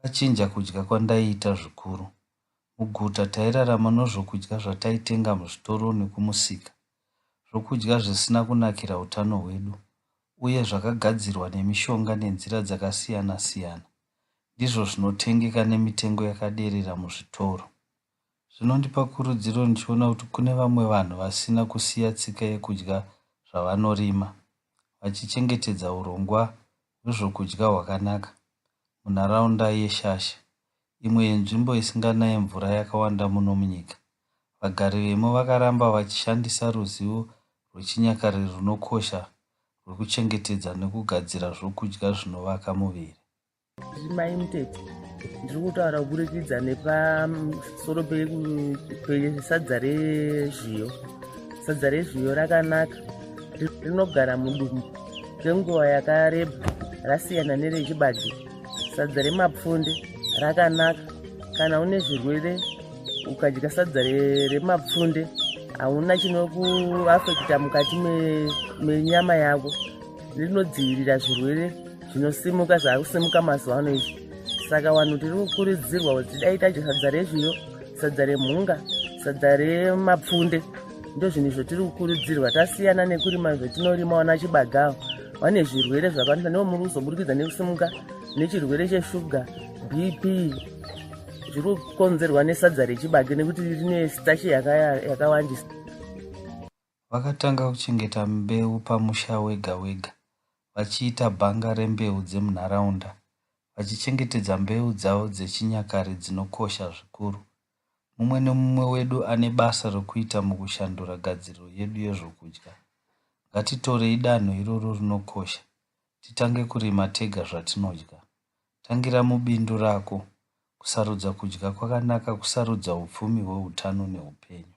zvakachinja kudya kwandaiita zvikuru. Muguta tairarama nozvokudya zvataitenga muzvitoro nokumusika, zvokudya zvisina kunakira utano hwedu uye zvakagadzirwa nemishonga nenzira dzakasiyana-siyana. Ndizvo zvinotengeka nemitengo yakaderera muzvitoro. Zvinondipa kurudziro ndichiona kuti kune vamwe vanhu vasina kusiya tsika yekudya zvavanorima, vachichengetedza urongwa rwezvokudya hwakanaka munharaunda yeShasha, imwe yenzvimbo isinganaye mvura yakawanda muno munyika. Vagari vemo vakaramba vachishandisa ruzivo rwechinyakare runokosha rwekuchengetedza nekugadzira zvokudya zvinovaka muviri. Zvimai Mtete ndiri kutaura kuburikidza nepasoro pesadza rezviyo sadza rezviyo rakanaka rinogara mudumbu kwenguva yakareba rasiyana nerechibage sadza remapfunde rakanaka kana une zvirwere ukadya sadza remapfunde hauna chinokuafekita mukati menyama yako rinodzivirira zvirwere zvinosimuka zvakusimuka mazuva ano izvi saka vanhu tiri kukurudzirwa kuti dai tadya sadza rezviyo sadza remhunga sadza remapfunde ndo zvinhu zvotiri kukurudzirwa tasiyana nekurima zvotinorima wana chibagawo vane zvirwere zvakawandisa ndivo muri kuzoburikidza nekusimuka nechirwere cheshuga bp zviri kukonzerwa nesadza rechibage nekuti rine stache yakawandisa Vakatanga kuchengeta mbeu pamusha wega wega vachiita bhanga rembeu dzemunharaunda vachichengetedza mbeu dzavo dzechinyakare dzinokosha zvikuru. Mumwe nemumwe wedu ane basa rokuita mukushandura gadziriro yedu yezvokudya. Ngatitorei danho iroro rinokosha titange kurima tega zvatinodya. Tangira mubindu rako, kusarudza kudya kwakanaka, kusarudza upfumi hweutano neupenyu.